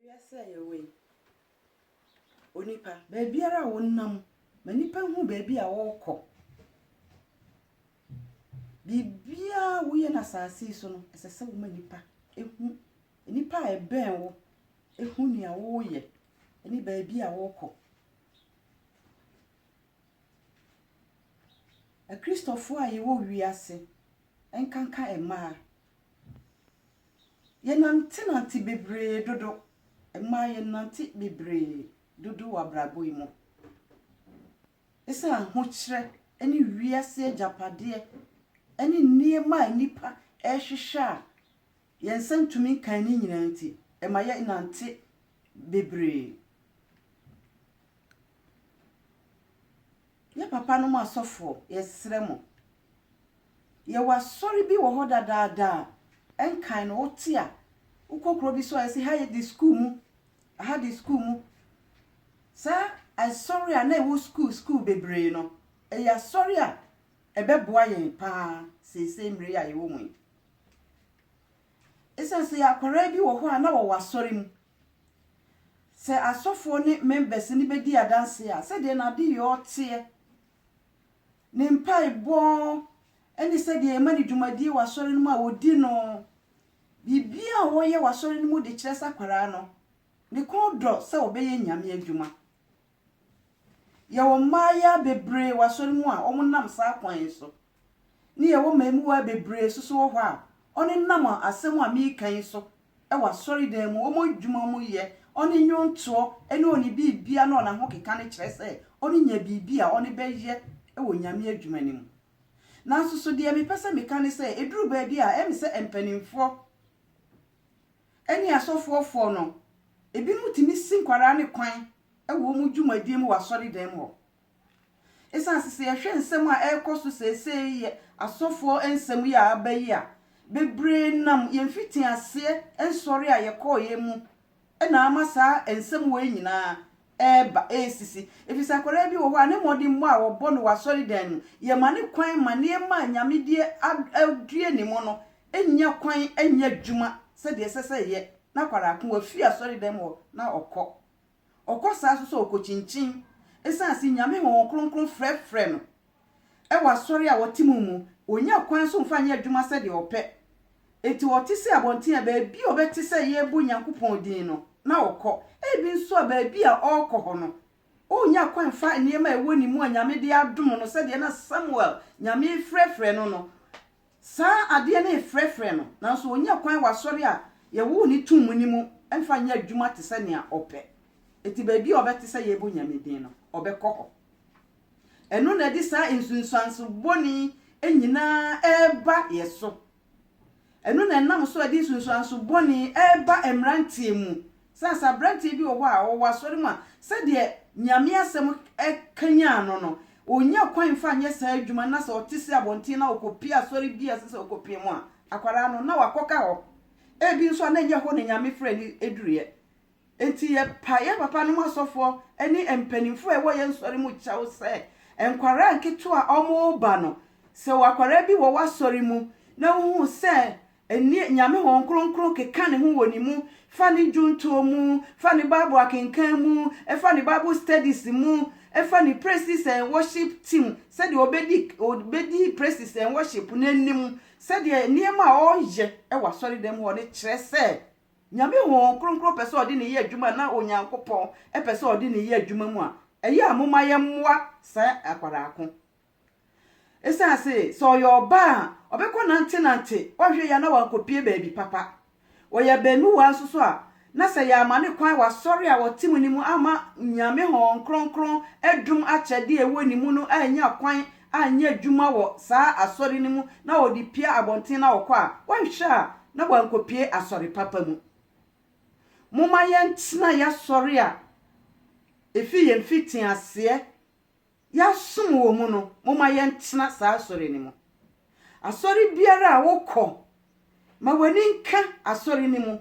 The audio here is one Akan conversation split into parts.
Wiase a yɛwɔ yi, onipa, baabiara a wonam, ma nnipa nhu baabi a worekɔ. Biribiara a woyɛ no asase yi so no, ɛsɛ sɛ woma nnipa hu. Nnipa a ɛbɛn wo hu nea woreyɛ ne baabi a worekɔ. Akristofo a yɛwɔ wiase, ɛnkanka mmaa, yɛnantenante bebree dodo, mmaa yɛnante bebree dodo wɔ abrabɔ yi mu. Esiane ahokyerɛ ne wiase agyapadeɛ ne nneɛma a nnipa rehwehwɛ a Yɛn nsa ntumi nkan ne nyinaa nti, ɛma yɛnante bebree. Yɛn papanom asɔfoɔ, yɛsrɛ mo, yɛwɔ asɔre bi wɔ hɔ dadaada a, ɛnkan no, wote a, wokɔ kuro bi so a, yɛse ha yɛ de sukuu mu, aha de sukuu mu. Saa asɔre a na ɛwɔ sukuu sukuu bebree no, ɛyɛ asɔre a ɛbɛboa yɛn paa seesei mmerɛ yi a yɛwɔ mu yi. Esiane sɛ akwadaa bi wɔ hɔ a na wɔwɔ asɔre mu, sɛ asɔfoɔ ne members no bɛdi adanseɛ a, sɛdeɛ n'adeyɔ teɛ, ne mpaebɔ ne sɛdeɛ yɛma no dwumadie wɔ asɔre no mu a wɔdi no, biribiara a wɔyɛ wɔ asɔre no mu de kyerɛ sɛ akwadaa no, ne kɔn dɔ sɛ ɔbɛyɛ Nyame adwuma. Yɛwɔ mmayewa bebree wɔ asɔre mu a wɔnam saa kwan yi so, na yɛwɔ mmamuwaa bebree nso so wɔ hɔ a wɔnenam asɛm a mereka yi so wɔ asɔredan mu, wɔn adwuma mu yɛ, wɔn nnwontoɔ ne wɔn biribiara ne wɔn ahokeka no kyerɛ sɛ wɔnya biribi a wɔbɛyɛ wɔ Nyame adwuma no mu. Nanso so deɛ mepɛ sɛ meka ne sɛ ɛduru baabi a ɛyɛ me sɛ mpanimfoɔ ne asɔfoɔfoɔ no, ebinom tumi si nkwadaa no kwan wɔ wɔn dwumadie mu wɔ asɔredan mu hɔ. Ɛsiane sɛ sɛ yɛhwɛ nsɛm a ɛrekɔ so seesei yɛ asɔfoɔ nsɛm yi a aba yi a, bebree nam yɛn mfitiaseɛ nsɔre a yɛkɔeɛ mu na ama saa nsɛm wei nyinaa reba resisi. Ɛfiri sɛ akwadaa bi wɔ hɔ a ne mmɔdemmɔ a wɔbɔ no wɔ asɔredan mu, yɛma no kwan ma nneɛma a nyamedie adue ne mu no nya kwan nya adwuma sɛdeɛ ɛsɛ sɛ ɛyɛ na akwadaa ko wafiri asɔredan mu hɔ na ɔkɔ Ɔkɔ saa nso sɛ ɔkɔkyinkyin ɛsiane se Nyame Honhom Kronkron frɛfrɛ no wɔ asɔre a ɔte mu mu. Ɔnya kwan nso mfa nyɛ adwuma sɛdeɛ ɔpɛ. Enti ɔte se abɔnten a baabi a ɔbɛte sɛ yɛrebɔ Nyankopɔn din no, na ɔkɔ. Ebi nso a baabi a ɔrekɔ hɔ no, ɔnnya kwan mfa nneɛma a ɛwɔ ne mu a Nyame de adom no sɛdeɛ na Samuel, Nyame refrɛfrɛ no no, Saa adeɛ no refrɛfrɛ no, nanso ɔnnya kwan wɔ asɔre a yɛwoo no too mu no mu mfa nyɛ adwuma te sɛ nea ɔpɛ. Enti baabi a ɔbɛte sɛ yɛrebɔ Onyame din no, ɔbɛkɔ hɔ. Ɛno na ɛde saa nsunsuanso bɔne yi nyinaa reba yɛn so. Ɛno na ɛnam so a ɛde nsunsuanso bɔne yi reba mmeranteɛ mu Sɛ sɛ aberanteɛ bi wɔ hɔ a ɔwɔ asɔre mu a, sɛdeɛ Nyame asɛm kanyan no no, ɔnya kwan mfa nyɛ saa adwuma no, na sɛ ɔte sɛ abɔnten na ɔkɔpie asɔre bi a ɛsɛ sɛ ɔkɔpie mu a, akwadaa no, na wakɔka hɔ. Ebi nso a na ɛnyɛ hɔ na Nyame frɛ no duruiɛ. Enti yɛpa yɛn papa nom asɔfoɔ ne mpanimfoɔ a ɛwɔ yɛn sɔre mu kyɛw sɛ, nkwadaa nketewa a wɔreba no, sɛ akwadaa bi wɔ w'asɔre mu na wohu sɛ Ndɛ, Nyame Hɔn Krɔnkrɔn keka Ne ho wɔ ne mu, fa ne ndwontoɔ mu, fa ne Bible akenkan mu, fa ne Bible studies mu, fa ne praises and worship team, sɛdeɛ ɔbɛdi ɔbɛdi praises and worship no anim, sɛdeɛ nneɛma a ɔreyɛ wɔ asɔredɛm hɔ no kyerɛ sɛ Nyame Hɔn Krɔnkrɔn pɛ sɛ ɔde ne yɛ adwuma na Onyankopɔn pɛ sɛ ɔde ne yɛ adwuma mu a, ɛyɛ a momma yɛmmoa saa akwadaa ko Esiane se sɛ ɔyɛ ɔba a ɔbɛkɔ nantenante, ɔnhwɛ yie a na wankɔpue baabi papa. Ɔyɛ abamuwa nso so a, na sɛ yɛamma no kwan wɔ asɔre a ɔte mu no mu amma Nyame Hɔn Kronkron dom akyɛde a ɛwɔ ne mu no annya kwan anyɛ adwuma wɔ saa asɔre no mu na ɔde pue abɔnten na ɔkɔ a, ɔnhwɛ a na wankɔpue asɔre papa mu. Momma yɛntena yɛn asɔre a ɛfiri yɛn mfitiaseɛ Yɛasom wɔ mu no, momma yɛntena saa asɔre no mu. Asɔre biara a wokɔ, ma w'ani nka asɔre no mu.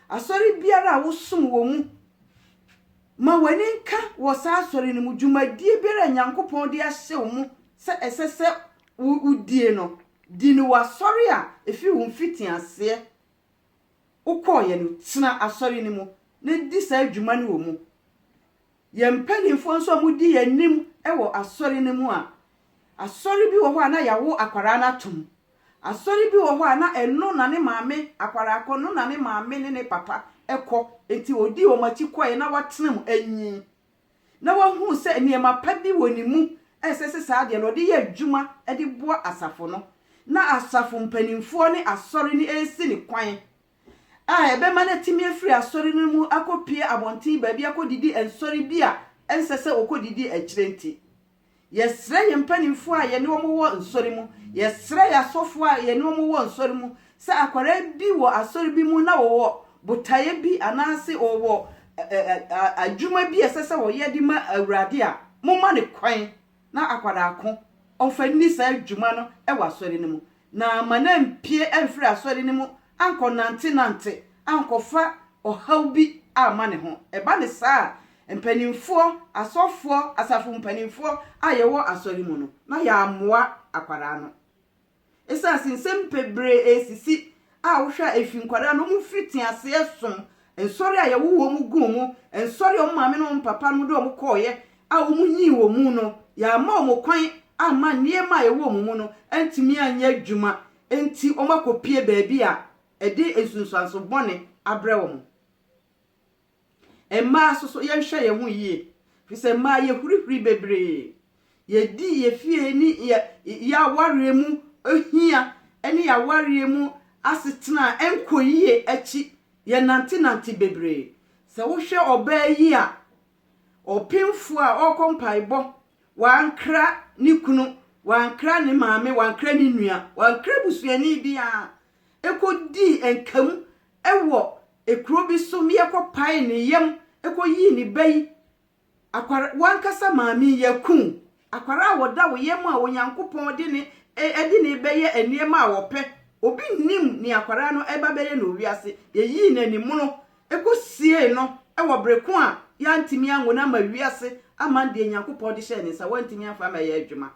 Asɔre biara a wosom wɔ mu, ma w'ani nka wɔ saa asɔre no mu. Dwumadie biara a Nyankopɔn de ahyɛ wo mu sɛ ɛsɛ sɛ wodie no, di no wɔ asɔre a ɛfiri wo mfitiaseɛ wokɔeɛ no, tena asɔre no mu na di saa dwuma no wɔ mu. Yɛn mpanimfoɔ nso a wɔdi yɛn anim wɔ asɔre no mu a, asɔre bi wɔ hɔ a na yɛawo akwadaa no atom. Asɔre bi wɔ hɔ a na ɛno na ne maame, akwadaa korɔ no na ne maame ne ne papa kɔ, enti ɔdii wɔn akyi kɔeɛ na watena mu anyin. Na wahunu sɛ nneɛma pa bi wɔ ne mu a ɛsɛ sɛ saa adeɛ no ɔde yɛ adwuma de boa asafo no. Na asafo mpanimfoɔ ne asɔre no resi no kwan a ɛbɛma no atumi afiri asɔre no mu akɔpue abɔnten baabi akɔdidi nsɔre bi a ɛnsɛ sɛ ɔkɔdidi akyire nti, yɛsrɛ yɛn mpanimfoɔ a yɛne wɔn wɔ nsɔre mu, yɛsrɛ yɛn asɔfoɔ a yɛne wɔn wɔ nsɔre mu sɛ akwadaa bi wɔ asɔre bi mu na ɔwɔ botaeɛ bi anaase ɔwɔ adwuma bi a ɛsɛ sɛ ɔyɛ de ma Awurade a, momma no kwan. na akwadaa ko ɔmfa nni saa dwuma no wɔ asɔre no mu, na ma no ampue amfiri asɔre no mu ankɔnantenante ankɔfa ɔhaw bi amma ne ho. Ɛba no saa a, mpanimfoɔ, asɔfoɔ, asafo mpanimfoɔ a yɛwɔ asɔre mu no, na yɛammoa akwadaa no. Esiane sɛ nsɛm bebree resisi a wohwɛ a efi nkwadaa na wɔfiri te aseɛ som nsɔre a yɛwo wɔn guu mu, nsɔre a wɔn maame ne wɔn papa nom de wɔn kɔɔeɛ a wɔnyii wɔn mu no, yɛamma wɔn kwan amma nneɛma a ɛwɔ wɔn mu no antumi anyɛ adwuma nti wɔakɔpue baabi a ɛde nsunsuanso bɔne abrɛ wɔn. Mmaa nso so, yɛnhwɛ yɛn ho yie. Ɛfiri sɛ mmaa yɛhurihuri bebree. Yɛdi yɛn fie ne yɛ yɛn awareɛ mu hia ne yɛn awareɛ mu asetena a ɛnkɔ yie akyi. Yɛnantenante bebree. Sɛ wohwɛ ɔbaa yi a ɔpemfoɔ a ɔrekɔ mpaebɔ, wankra ne kunu, wankra ne maame, wankra ne nua, wankra busuani biara, ɛkɔdii nka mu Wɔ kuro bi so meɛ kɔ pae ne yam kɔ yii ne ba yi akwar wankasa maame ya kun akwar a wɔda wo yam a onyankopɔn de ne de ne bɛ yɛ nneɛma a wɔpɛ obi nnim ne akwar no ɛba bɛyɛ no wiase yɛ yii no animono kɔ siee no wɔ breko a ya ntimi ango no ama wiase aman deɛ nyankopɔn de hyɛ ne nsa wantimi anfa ama yɛ adwuma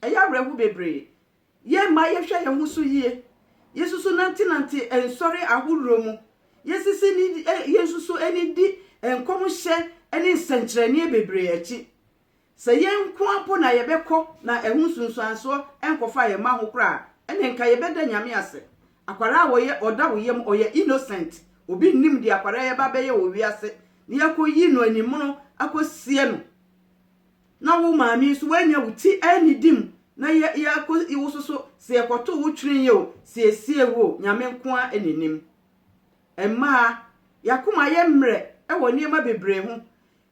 ɛyɛ awerɛho bebree Yɛn mma yɛhwɛ yɛn ho so yie. Yɛsusu nantenante nsɔre ahodoɔ mu. Yɛsisi ne yɛnsusu ne di nkɔmhyɛ ne nsɛnkyerɛnneɛ bebree akyi. Sɛ yɛn nko ara mpo na yɛbɛkɔ na ɛho nsunsuansoɔ nkɔfaa yɛn mma ho koraa a, ɛnneɛ nka yɛbɛda Nyame ase. Akwadaa a wɔyɛ ɔda wo yam, ɔyɛ innocent. Obi nnim deɛ akwadaa yi ɛba abɛyɛ wɔ wiase na yɛakɔyi no animono akɔsie no. na wo maame yi nso woanya wo ti annidi mu na yɛ yɛakɔ yi wo so so sɛ yɛkɔto wo twene yi o siesie wo o Nyame nko ara na ɛnim. Mmaa, y'akoma ayɛ mmerɛ wɔ nneɛma bebree ho.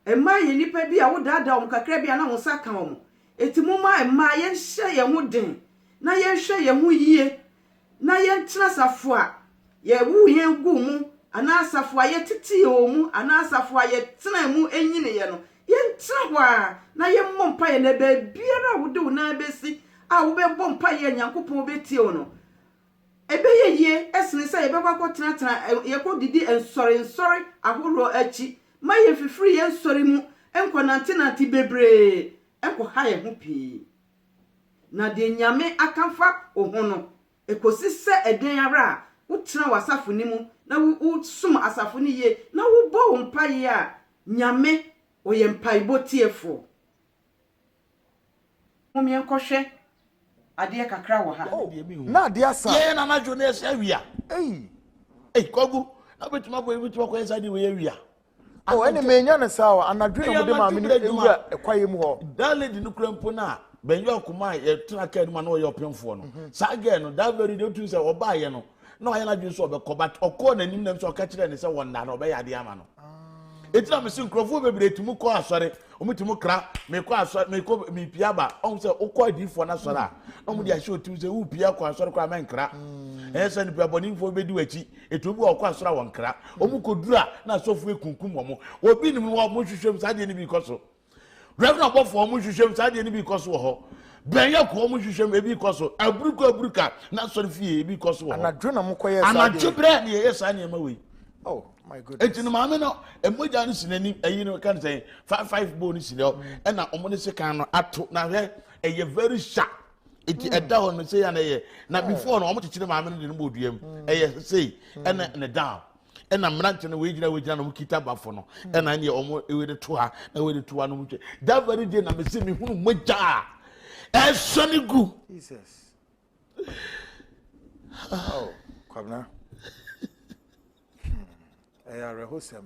Mmaa yɛ nnipa bi a wodaadaa wɔn kakra bi a na wo nsa ka wɔn. Enti momma mmaa yɛnhyɛ yɛn ho den na yɛnhwɛ yɛn ho yie na yɛntsena asafo a yɛwoo hɛn guu mu anaa asafo a yɛtsetsee wɔ mu anaa asafo a yɛtsenaa mu nyinii no, yɛntsena hɔ ara na yɛmbɔ mpaeɛ na baabiara a wode wo nan bɛsi a wobɛbɔ mpaeɛ a Nyankopɔn bɛtie wo no, ɛbɛyɛ yie sene sɛ yɛbɛkɔ akɔtenatena yɛkɔdidi nsɔrensɔre ahoroɔ akyi ma yɛmfifiri yɛn nsɔre mu nkɔnantenante bebree nkɔha yɛn ho pii. Na deɛ Nyame aka fa wo ho no, ɛkɔsi sɛ ɛdɛn ara a, wotena w'asafo no mu na wosom asafo no yie na wobɔ wo mpaeɛ a, Nyame, Ɔyɛ mpaebɔ tiefoɔ. Mom yɛnkɔhwɛ adeɛ kakra wɔ ha. Oh, na adeɛ asa. Yɛyɛ na anadwo na ɛsɛ awia. Ei. Ei, kwagu, na bɛtumi akɔ, bɛtumi akɔ yɛ saa deɛ wei awia. O, ɛne menya no saa o, anadwo na mode maame no wura kwaeɛ mu hɔ. That lady no kura mpo no a, bɛn yɛ ɔkoma a yɛtena kaa no mu a na ɔyɛ ɔpemfoɔ no. Mhm. Saa gɛɛ no, that very day wotumi sɛ ɔbaayɛ no, na ɔyɛ n'adwene sɛ ɔbɛkɔ, but ɔkɔɔ n'anim nam sɛ ɔka kyerɛɛ ne sɛ wɔnna no ɔbɛyɛ adeɛ ama no. ɛti na mese nkurɔfoɔ bebree tumi kɔ asɔre ɔmutumi kra mekɔ asɔre mekɔ mepia ba ɔm sɛ wokɔ adiifoɔ no asɔre a na ɔmode ahyɛ ɔtim sɛ wopia kɔ asɔre kɔ a mɛnkra ɛyɛ sɛ nipa bɔnefoɔ bɛdi w'akyi Ɛtumi bi wɔ wɔkɔ asɔre a wɔnkra. Wɔn kɔduru a na asɔfoɔ akunkum wɔn. Obi nim wɔ wɔn hwehwɛ mu saa adeɛ no bi kɔ so. Reverend abɔfoɔ wɔn hwehwɛ mu saa adeɛ no bi kɔ so wɔ hɔ. Bɛnyɛ ko wɔn hwehwɛ mu ebi kɔ so. Aburuka aburuka na asɔre fie ebi kɔ so wɔ hɔ. Anadwo na mo kɔ yɛ saa adeɛ. Anadwo brɛ na yɛyɛ saa nneɛma wei. Oh my goodness. Eti no maame no mogya no si n'anim ɛyi no kan sɛn five five bowl no si hɔ ɛna wɔn de sekan no ato na hwɛ ɛyɛ very sharp. nti ɛda hɔ no sɛ yɛ na ɛyɛ na before no wɔn tete ne maame no de no bɔ dua mu ɛyɛ sei ɛna ne down ɛna mmerante no wɔgyina wɔgyina na wɔn kita bafo no ɛna ɛna wɔn ɛwɔ de to ha na wɔn de to ha na wɔn twɛ that very day na mesi mi hunu mogya a ɛsɔ ne gu. Jesus. Oh, kwabena ɛyɛ awerɛhosɛm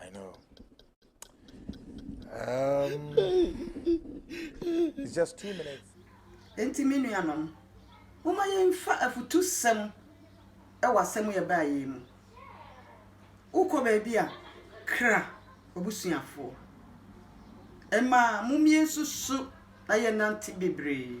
I know. Um, it's just two minutes. Enti me nuanom, momma yɛmfa afutusɛm wɔ asɛm yɛ baa yɛn mu. Wokɔ baabi a, kra abusuafoɔ. Ɛma mommie nso so na yɛnante bebree.